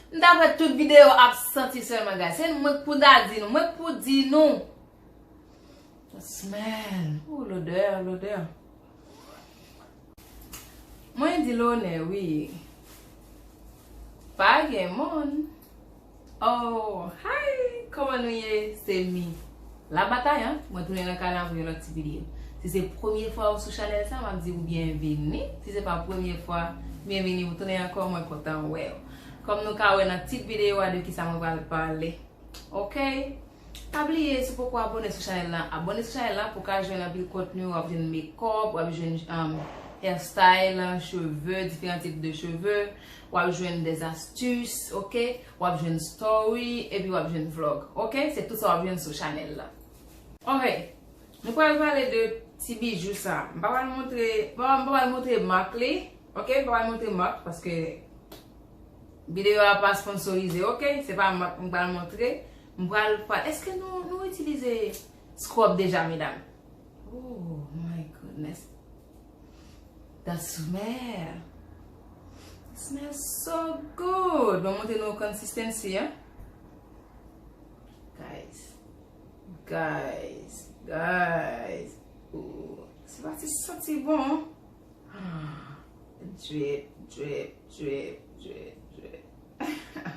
M ta fè tout video ap santi selman guys. Se nou mwen k pou ta di nou. Mwen k pou di nou. The smell. Ooh l'odeur, l'odeur. Mwen di l'honneur wi. Pa gen moun. Ohh hi kòman nou ye se mi la batay an mwen tounen nan kay la avèk yon lòt ti video si se premye fwa ou sou chanèl sa map diw byenvini si se pa premye fwa byenvini ou tounen ankò mwen kontan wèw kòm nou ka wè nan tit video a de kisa mwen pral pale ok. Pa bliye si w poko abone sou chanèl la abone sou chanèl la pou ka jwenn anpil kontni wap jwenn mekòp wap jwenn hair style cheve diferan tip de cheve wap jwenn des astus ok wap jwenn story epi wap jwenn vlog ok se tout sa wap jwenn sou chanèl la ok nou pral pale de ti bijou sa m pa pral montre m pa pral montre mak li ok m pa pral montre mak paske videyo a pa sponsorize ok se pa mak m pral montre M pral pral eske nou nou itilize scrub deja medam ooh my goodness the smell smell so good mwen montre nou consistency an guys guys guys ooh se pa ti santi bon an drip drip drip drip drip ha ha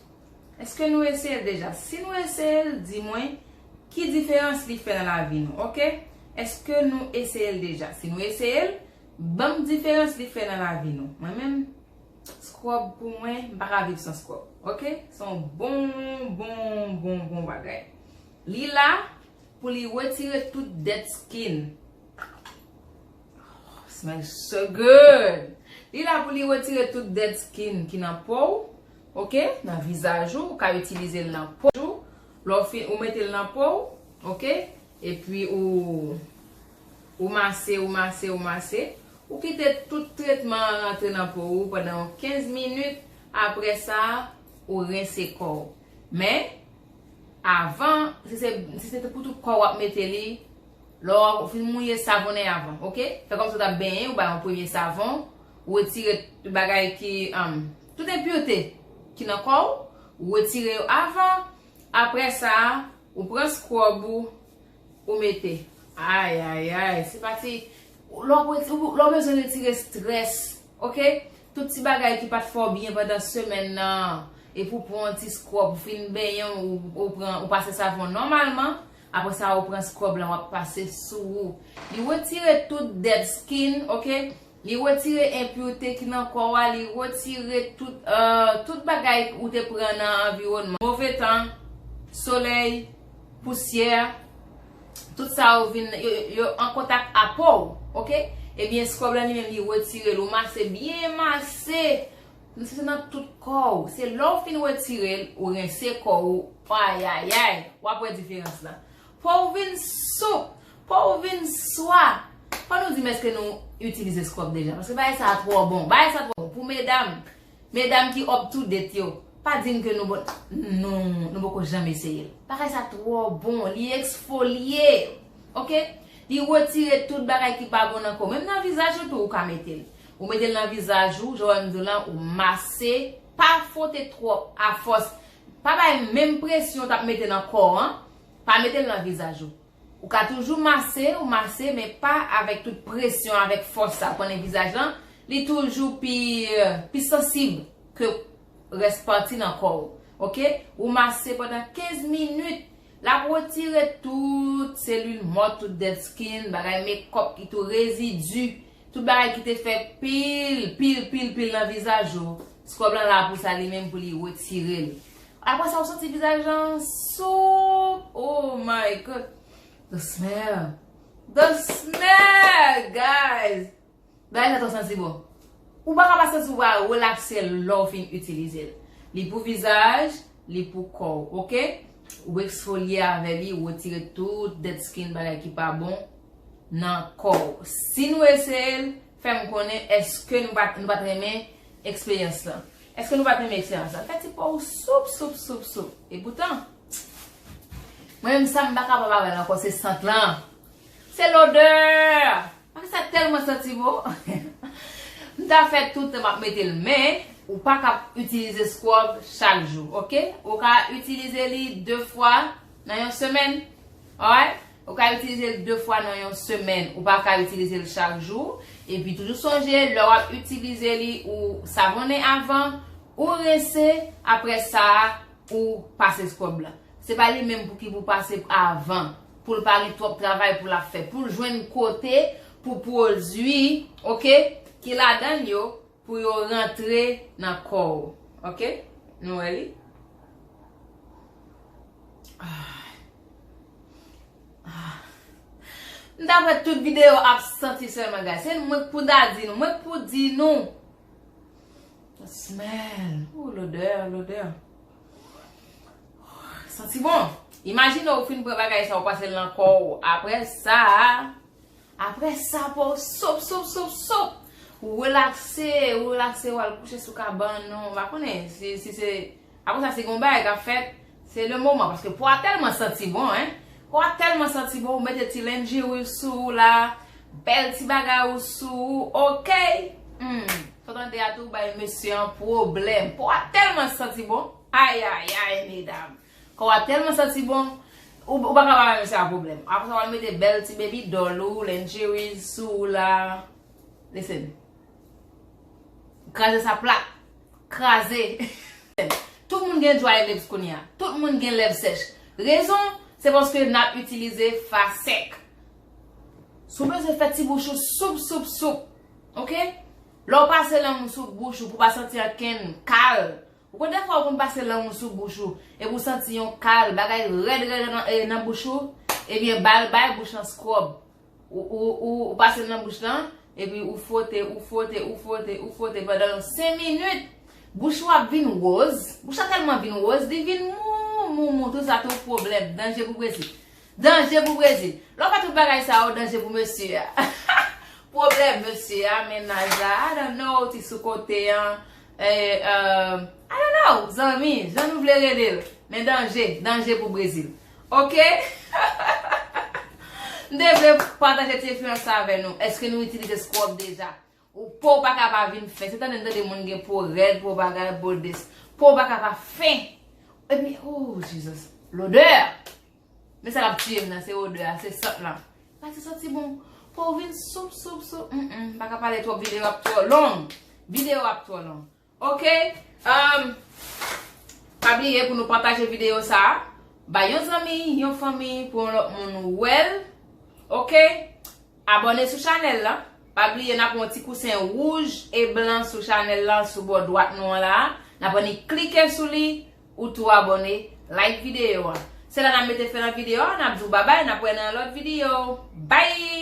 Eske nou eseyel deja si nou eseyel di mwen ki diferans li fè nan lavi nou ok eske nou eseyel deja si nou eseyel banm diferans li fè nan lavi nou mwen menm scrub pou mwen m paka viv san scrub ok son bon bon bon bon bagay li la pou li retire tout dead skin oh smell so good li la pou li retire tout dead skin ki nan pow. ok nan vizaj ou ou ka itilizel nan po ou lè ou fin ou metel nan po ou ok epi ou ou mase ou mase ou mase ou kite tout tretman an rantre nan po ou pandan yon 15 minit aprè sa ou rense kò ou men avan si se si se pou tout kò ou ap mete li lè ou fin mouye savonnen avan ok fè kòmsi ou tap benyen ou bay yon premye savon ou retire tout bagay ki Tout enpureté ki nan kò ou, ou retire yo avan, aprè sa ou pran scrub ou, ou mete. Ay ay ay, se pa ti, lè w reti, lè w bezwen retire stress, ok, tout ti bagay ki pat fè w byen pandan semèn nan, epi ou pran yon ti scrub, ou fin benyen w, ou pran, ou pase savon nòmalman, aprè sa ou pran scrub lan wap pase sou ou, li retire tout dead skin, ok, Li retire enpureté ki nan kò a, li retire tout tout bagay ou te pran nan anviwònman, move tan, solèy, pousyè, tout sa yo vin yo an kontak a po ou ok, ebyen scrub lan li menm li retirel ou mase byen mase mse se nan tout kò ou, se lè ou fin retirel ou rense kò ou ayayay wap wè diferans la Fò ou vin soup! Fò ou vin swa! Fò nou di m èske nou itilize scrub deja paske bagay sa a twò bon. Bagay sa twò bon pou medam. Medam ki up to date yo, pa di m ke nou bon non, nou poko janm eseye l. Bagay sa twò bon, li eksfolye! Ok? Li retire tout bagay ki pa bon nan kò. Menm nan vizaj ou tou ou ka mete l. Ou mete l nan vizaj ou, jan w wè m di w lan, ou mase, pa fwote twòp a fòs Pa bay menm presyon tap mete nan kò an, pa metel nan vizaj ou. Ou ka toujou mase ou mase men pa avèk tout presyon avèk fòs sa ou konnen vizaj lan li toujou pi pi sansib ke rès pati nan kò ou ok ou mase pandan 15 minit lap retire tout selil mò tout dead skin bagay mekòp ki tou rezidu Tout bagay ki te fèt pil, pil, pil, pil nan vizaj ou, Scrub lan la pou sa li menm pou li retire l. Aprè sa ou santi vizaj lan soup! Oh my God! The smell! The smell! Guys! Bagay sa twò santi bon. Ou pa ka pa santi ou va relakse lè ou fin itilize l. Li pou vizaj, li pou kòw ok ou exfolier avè li ou retire tout dead skin bagay ki pa bon nan kòw si nou eseyel fèm konnen eske nou pat nou pat renmen eksperyans lan eske nou pat renmen eksperyans lan fè ti pow soup soup soup soup epoutan mwen menm sa m pa kapab avèl ankò se sant lan Se l'odeur! Bagay sa tèlman santi bon! M ta fè toutan map mete l men ou pa ka itilize scrub chak jou ok ou ka itilize li 2 fwa nan yon semèn alright ou ka itilize l 2 fwa nan yon semèn ou pa ka itilize l chak jou epi toujou sonje lè wap itilize li ou savonnen avan ou rense aprè sa ou pase scrub la. Se pa li menm pouki pou pase avan, poul pa gen twòp travay pou lap fè, poul jwenn kote pou pwodwi ok ki ladann yo pou yo rantre nan kòw ok nou wè li aah m tap wè tout video ap santi sèlman guys se mwen k pou ta di nou mwen k pou di nou smell ooh lodè lodè. Santi bon. Imajine ou fin pran bagay sa ou pase l nan kò ou. Aprè sa, aprè sa pou ou sop, sop, sop, sop. Ou relakse, ou relakse ou al kouche sou kabann ou. Mpa konnen si se, aprè sa si gon bagay kap fèt, se le moman. Paske po a tèlman santi bon hein. Po a tèlman santi bon ou mete ti lingerie ou sou ou la, bèl ti bagay ou sou ou, okay! Humm. Saw tande a tou bay mesye an pwoblèm. Kò a tèlman santi bon. Ayayay medam. Kò a tèlman santi bon. Ou pa ka pa bay mesye a pwoblèm. Apresa wal mete bèl ti baby doll ou, lingeries, sou ou la. Listen. Kraze sa plat. Kraze. Tout moun gen dry lips kounye a. Tout moun gen lèv sèch. Rezon, se paske nap itilize fa sèk. Si w bezwen fè ti bouch ou soup soup soup. Ok lè ou pase lang ou sou bouch ou pou pa santi ankenn kal ou konn dèfwa ou konn pase lang ou sou bouch ou epi ou santi yon kal bagay rèd rèd nan bouch ou ebyen bal bay bouch lan scrub ou pasel nan bouch lan epi ou fwote ou fwote ou fwote ou fwote pandan yon 5 minit bouch ou ap vin woz bouch la tèlman vin woz li vin mou mou mou tout sa tou pwoblèm danje pou presi. Danje pou brezil. Lè w wè tout bagay sa yo danje pou mesye a. Pwoblèm mesye a, mennaj la, I don't know, ti sou kote an, eeh, I don't know, zanmi, jan nou vle rele l. Men danje, danje pou brezil. Ok? M te vle pataje ti eksperyans sa avè nou. Eske nou itilize scrub deja? Ou pouw paka pa vin fen. Se tande m tande moun gen po rèd, po bagay, bo this. Pouw paka pa fen. Epi ooh Jesus. L'odeur! Men sa kap tiyem nan se odeur a, se sant lan. Sa se santi bon. Pouw vin soup soup soup. Mpaka pale twòp video ap twò long. Video ap twò long. Ok umm pa bliye pou nou pataje video sa bay yon zanmi yon fanmi pou yon lòt moun wèl ok abòne sou chanèl la pa bliye nap wè yon ti kousen wouj e blan sou chanèl la sou bò dwat nou an la nap annik klike sou li ou tou abòne like video an se la nap mete fen nan video an nap di w babay nap wè nan yon lòt video bye.